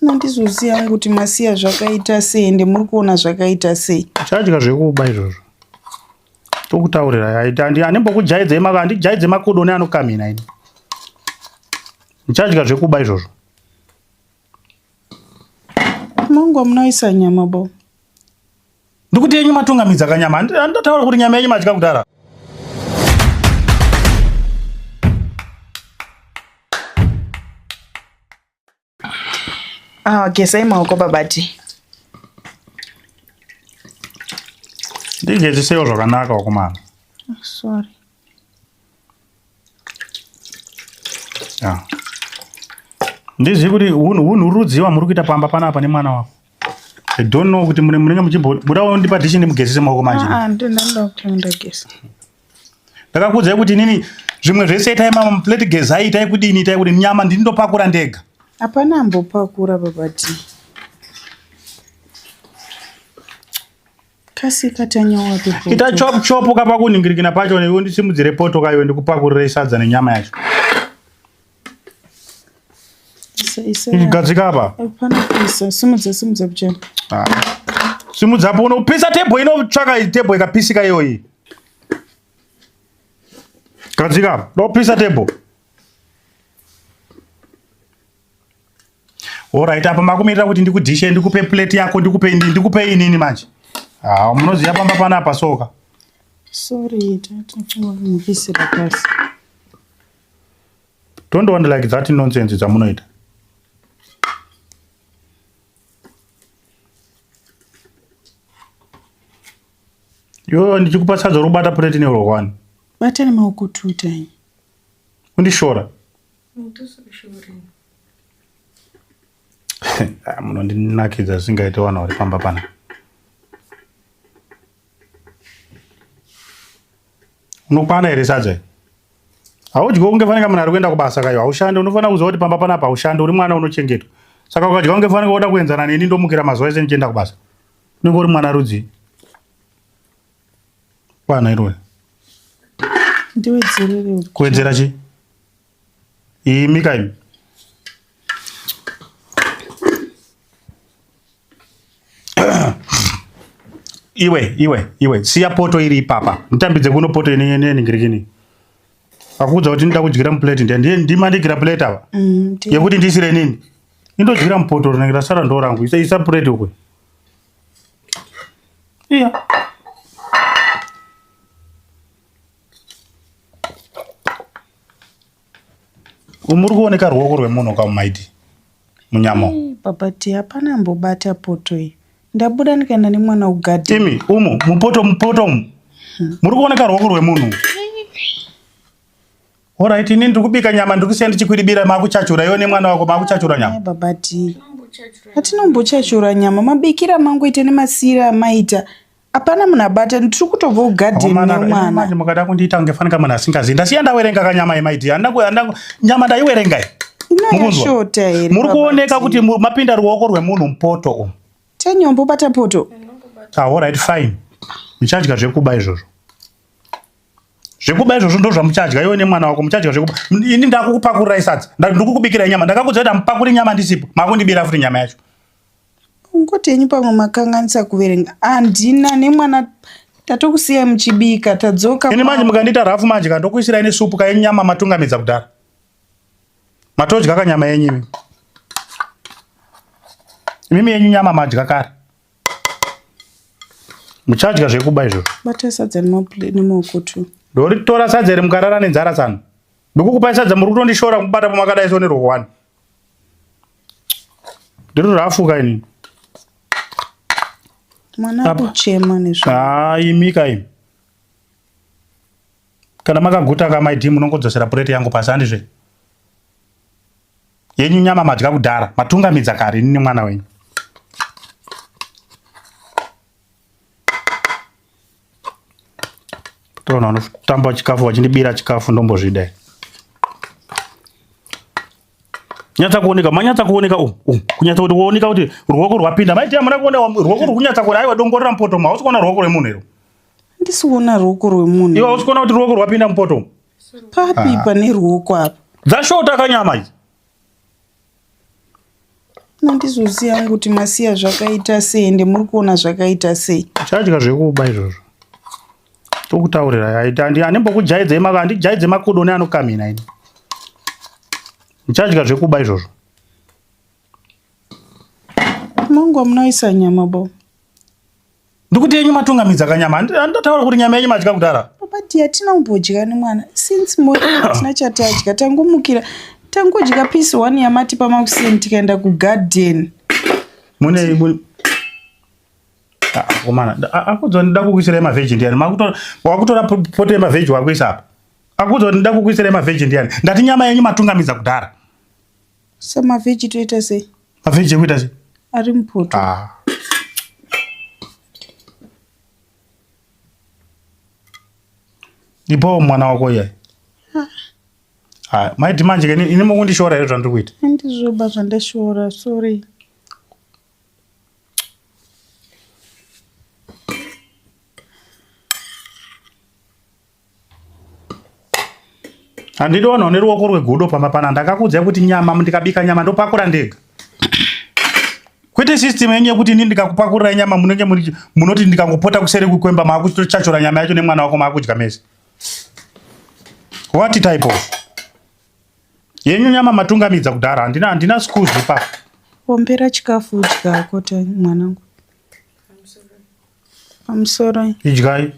nandizoziva hangu kuti masiya zvakaita sei ende muri kuona zvakaita sei chadya zvekuba izvozvo tokutaurira anembokujaidzai maka andijaidze makodo ne anokamhina ini ndichadya zvekuba izvozvo mangu amunoisa nyama bo Ndikuti yenyu matungamidza kanyama. Handataura kuti nyama yenyu madya kudara. Ah, gesai maoko babati. Ndigezisewo zvakanaka wakomana. Sorry. Yeah. Ndizvi kuti hunhu rudzi wamuri kuita pamba panapa nemwana wako. I don't know kuti mune munenge muchimbobuda wondipa dishi ndimugezese maoko manje. Ah, ah ndinoda ndoda kuti ndageza. Ndakakuudzai kuti inini zvimwe zvese itai mama muplate gezai itai kudini itai kuti nyama ndini ndopakura ndega. Hapana ambopakura baba T. Kasika tanyawa pepoto. Ita chop chop kapa kuningirikina pacho newe ndisimudzire poto kaiwe ndikupakurire sadza nenyama yacho. Isa isa. Igadzika apa. Hapana kuisa. Simudza simudza kuchena. Ah. Simudza apo unopisa table inotsvaka table ikapisika iyoyi. Gadzika apa. Ndopisa table. Alright, apa makumirira kuti ndikudishe ndikupe plate yako ndikupe ini ndikupe inini manje. Ah, munoziva pamba panapa soka. Sorry, tatinokumbisira pasi. Don't want like that nonsense dzamunoita. Yo ndichikupa sadza robata plate neuro one. Bata nemaoko two time. Undishora. Mutuso weshorini. Ah, munondinakidza zvisingaite wana uri pamba pana unokwana here sadza haudyiwo kunge fanika munhu ari kuenda kubasa kayo haushande unofanira kuziva kuti pamba panapa haushande uri mwana unochengetwa saka ukadya kunge fanika woda kuenzana neni ndomukira mazuva ese ndichienda kubasa unenge uri mwana rudzii Kwana iroyo. Ndiwedzerere uko. Kuwedzera chi? Imi ka imi. iwe iwe iwe siya poto iri ipapa nditambidze kuno poto ine ine ningirikini akuudza kuti ndida kudyira muplate ndiye ndiye ndima ndigira plate ava Mm, ndiwe- yekuti ndisire nini indodyira mupoto rinenge rasara ndo rangu isa isa plate ukwe iya umuri kuoneka ruoko rwemunhu kamumaidi munyama babati hapana mbobata poto iyi ndabuda ndikaenda nemwana ugadhi imi umu mupoto mupoto umu hmm. muri kuoneka ruoko rwemunhu Alright, ini ndiri kubika nyama ndiri kusiya ndichikwidibira makuchachura iwe nemwana wako makuchachura nyama. Baba ti. Hatinombochachura nyama mabikira mangu ite nemasiira amaita. Hapana munhu abata ndiri kutobva kugadheni nemwana. Manje mukada kundiita kunge fanika munhu asingazivi. Ndasiya ndawerenga kanyama yemaiti. Nyama ndaiwerenga iyi. Mukunzwa? Muri kuoneka kuti mapinda ruoko rwemunhu mupoto umu. Tenyombo bata poto. Ah, all right, fine. Muchadya zvekuba izvozvo. zvekuba izvozvo ndo zvamuchadya iwe nemwana wako muchadya zvekuba ini ndakukupakurira isadza ndikukubikirai nyama ndakakuzoita mupakuri nyama ndisipo makundibira futi nyama yacho ngoti yenyu pamwe makanganisa kuverenga handina nemwana tatokusiyai muchibika tadzoka ini manje mukandiita rafu manje ka ndokuisirai nesupu kayenyu nyama matungamidza kudhara matodya kanyama yenyu imi mimi yenyu nyama madya kare muchadya zvekuba izvo bata sadza nemaoko tu ndoritora sadza iri mukarara nenzara tsano ndikukupai sadza muri kutondishora kubata pamakadai so nerwokwani ndiri rafuka ini mwana akuchema nezvo haa imika imi kana makaguta kamaidi munongodzosera pureti yangu pasi handizve yenyu nyama madya kudhara matungamidza kare ini nemwana wenyu toona unotamba chikafu wachindibira chikafu ndombozvida nyatsa kuoneka manyatsa kuoneka u kunyatsa kuti wooneka kuti ruoko rwapinda maiti amuna kuona ruoko rwukunyatsa kuona aiwa dongorera mupoto ma hausi kuona ruoko rwemunhu iro ndisi kuona ruoko rwemunhu iwe hausi kuona kuti ruoko rwapinda mupoto papi ah. pane ruoko apa dzashota kanyama idzi nandizoziva yangu kuti masiya zvakaita sei ende muri kuona zvakaita sei chadya zvekuba izvozvo tokutaurira anembokujaidzei maka andijaidze makudo neanokamhina ini muchadya zvekuba izvozvo mangu amunoisa nyama bo Ndikuti yenyu matungamidza kanyama. Handataura kuti nyama yenyu madya kudara. Papa dear tina umbodya nemwana. Since morning tina chatadya tangomukira. Tangodya piece one yamati pamakuseni tikaenda ku garden. Mune mune ah, komana akudzwa ndida kukuisira ma virgin yani makutora wakutora pote ma virgin wakuisa apa akudzwa ndida kukuisira ma virgin yani ndati nyama yenyu matungamidza kudara Sa mavheji toita sei? Mavheji ekuita sei? Ari mupoto. Ah. Ipawo mwana wako iyayi. Ah. Ah, maiti manje ke ini mukundishora here zvandiri kuita? Handizvoba zvandashora, sorry. handidi vanhu vane ruoko rwegudo pamba pana ndakakuudzai kuti nyama ndikabika nyama ndopakura ndega kwete system yenyu yekuti ini ndikakupakurira nyama munenge munoti ndikangopota kuseri kukwemba maakuchachora nyama yacho nemwana wako maakudya mese what type of yenyu nyama matungamidza kudhara handina handina schools ipapo ombera chikafu udya koti mwanangu I'm sorry. Idyai.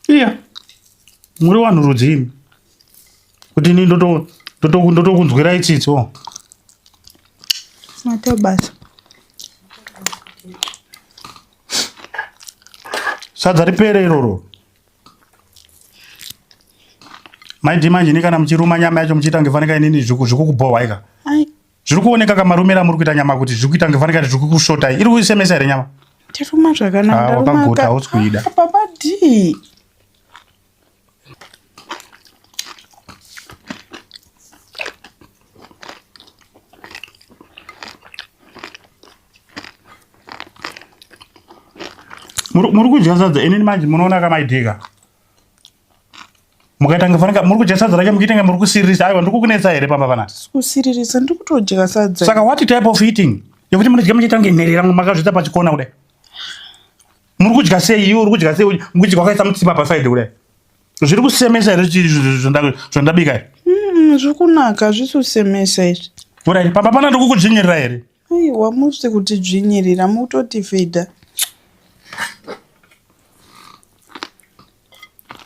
iya muri vanhu rudzii kuti ini ndotokunzwirai tsitsi o matobasa sadza ripere iroro maidi manje ini kana muchiruma nyama yacho muchiita ngefanika inini zvikukubohwaika Zviri kuoneka kamarumira muri kuita nyama kuti zviri kuita ngefanika kuti zviri kukushotai. Iri kuisemesa here nyama? Ndiruma zvakanaka. Ah, wakaguta hausi kuida. Ah, baba D. Muri kudya sadza inini manje munoona kamaidika. mukaita kunge fanaka muri kudya sadza racho muchiita kunge muri kusiririsa aiwa ndiri kukunetsa here pamba panapa kusiririsa ndiri kutodya sadza saka what type of eating yekuti munodya muchiita kunge nherera makazviita pachikona kudai muri kudya sei iwe uri kudya sei mukudya kwakaisa mutsipa pasaidi kudai zviri kusemesa here zvandabika zviri kunaka hazvisi kusemesa izvi kurai pamba pana ndiri kukudzvinyirira here Aiwa musi kuti dzvinyirira mutoti fedha.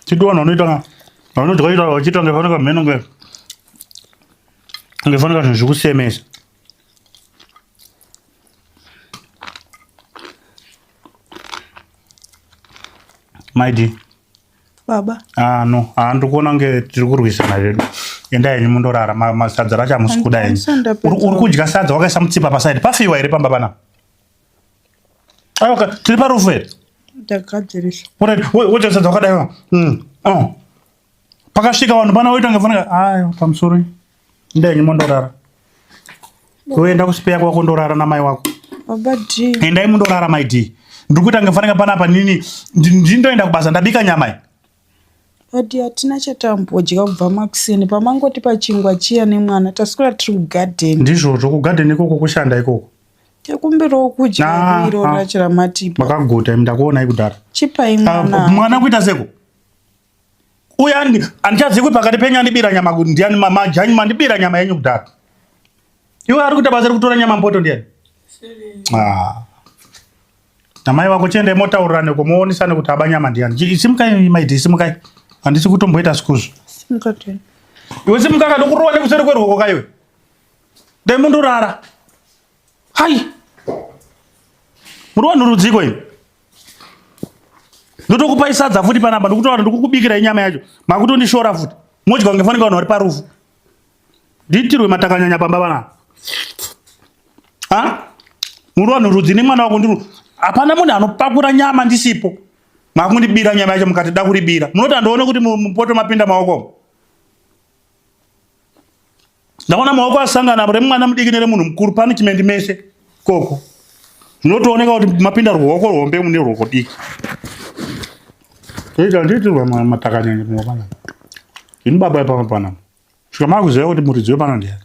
Chidi vanhu vanoita ka vanodya ita vachiita kunge fanira mheno kunge kunge fanira zvinhu zvikusemesa. Maidi. baba ah no ah ndikuona kunge tiri kurwisana zvedu endai henyu mundorara masadza racho hamusi kuda henyu uri kudya sadza wakaisa mutsipa pasaidi pafiwa here pamba pana ayoka tiri parufu here ndagadzirisa woita sadza wakadaiwa hmm, oh. pakasvika vanhu pana woita ngefanira ayo pamusoro Ndenge mondorara. Kuenda kusipeya kwako ndorara na mai wako. Baba D. Endai mundorara mai D. Ndikuita ngefanira pana apa nini ndindoenda kubasa ndabika nyama iyi. Adi hatina chatambodya kubva makuseni pamangoti pachingwa chiya nemwana taswera tiri kugadheni. Ndizvozvo kugadheni ikoko kushanda ikoko. Tekumbirawo kudya ah, iro ah. racho ramatipa. Makaguta ndakuonai kudhara. Chipai ah, mwana. Mwana kuita seko. uye handichazivi kuti pakati penyu andibira nyama kuti ndiani majanyu mandibira nyama yenyu kudhaka iwe ari kuita basa rekutora nyama mpoto ndiani ah. namai vako chiendai motaurirane ko moonisane kuti aba nyama ndiani isimukai maiti isimukai handisi kutomboita sikuzvo iwe simuka kanokurova nekuseri kwerwoko kaiwe dai mundurara Hai. Muri vanhu rudziko imi. Ndotokupai sadza futi panapa ndikutowana ndikukubikira inyama yacho. Makutondishora futi. Modya kunge fanike vanhu vari parufu. Ndiitirwe matakanyanya pamba vana. Ha? Muri vanhu rudzi nemwana wako ndiri. Hapana munhu anopakura nyama ndisipo. Makundibira nyama yacho mukati da kuribira. Munoti andoona kuti mupoto mapinda maoko. ndaona maoko asangana apo remwana mudiki neremunhu mukuru punishment mese koko zvinotooneka kuti mapinda ruoko rwombe mune ruoko diki toita ndiitirwa matakanyanya pamwe pana ini baba ipamwe pana svika makuziva kuti muridzi wepana ndiyani